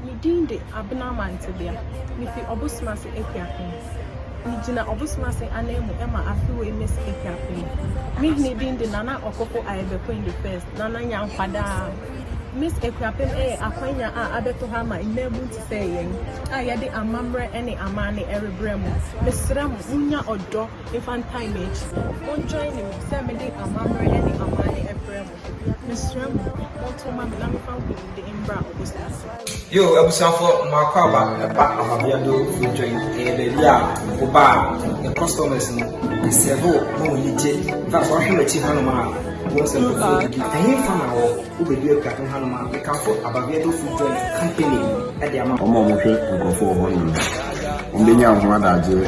Me din de Abena Mantebea. Mifi Ɔbosemase Akuapem. Migyina Ɔbosemase ananmu ma afe wei mesi Akuapem. Me hene din de Nana Ɔkofo Ayɛbɛkoin the First, Nana Nya Nkwadaa. Miss Akuapem yɛ akwanya a abɛto ha ama mmaabun te sɛ yɛn a yɛde amammerɛ ne amanne rebrɛ mo. Mesrɛ mo, monnya ɔdɔ mfa ntae m'akyi. Monjoine me sɛ mede amammerɛ ne amanne brɛ mo. Mesrɛ mo monto mma me na me fa honhom de mbra ɔbosan ase. Yo abusuafo mo akwaaba ɛba ahɔbea do fridwɔ yi ɛyɛ baabi a wo ba a ne customers no ɛsɛve wo na wɔn ani gye tas wahwɛ m'akyi hanom a wɔn sɛ nkurɔfoɔ adidi ɛhe fa na wɔ wo bɛdu apuade hanom a mekamfo abavea do fridwɔ yi company ɛde ama wɔn a wɔhwɛ nkurɔfoɔ wɔ hɔnom no wɔn bɛnya wɔn ho adagyeɛ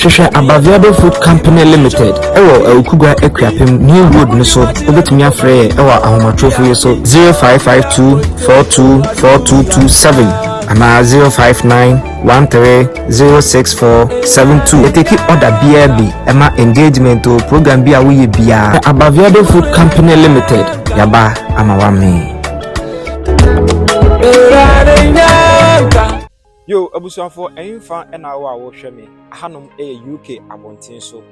hwehwɛ abaviado food company limited ɛwɔ awukugua akuapem new road no so wobɛtumi afrɛ yɛ ɛwɔ ahomatorofo yi so 0552 424227 anaa 059 130647 ɛtɛki ɔda biara bi ɛma engagement o program bi a woyɛ biara abaviado food company limited yaba ama wamee Yo, abusuafoɔ ɛmfa ɛna wo a wɔhwɛ me ahanom ɛyɛ UK abɔnten so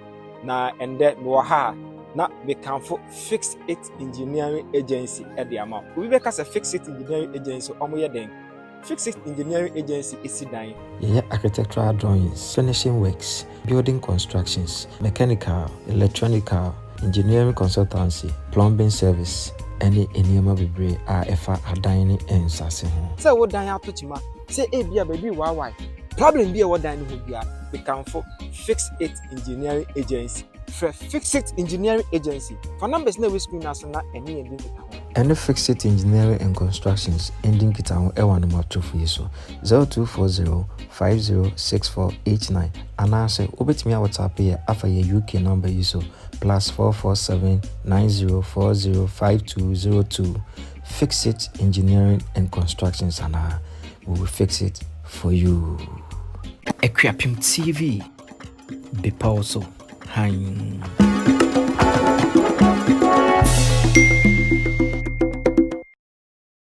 na ɛndɛ mewɔ ha a na mekamfo Fix It Engineering Agency ɛde ama wo. Obi bɛka sɛ Fix It Engineering Agency wɔn yɛ dɛn? Fixit Engineering Agency si dan. Yɛyɛ architectural drawings, furnishing works, building constructions, mechanical, electronical, engineering consultancy, plumbing service, ne nneɛma bebree a ɛfa adan ne nsase ho. Sɛ wo dan ato kyema, sɛ ebia baabi rewaawae, problem bi a ɛwɔ dan no ho biara, mekamfo Fixit Engineering Agency. Frɛ Fixit Engineering Agency. Fa numbers no a ɛwɔ screen no ase na ɛne yɛn di nkitaho. Ɛne Fixit Engineering and Constructions ndi nkitaho wɔ anomatofo yi so, 0240506489 anaasɛ wobɛtumi a WhatsApp yɛ afa yɛn UK number yi so, plus 44790405202. Fixit Engineering and Constructions anaa, we will fix it for you. Akuapem TV. bepɔw so hann.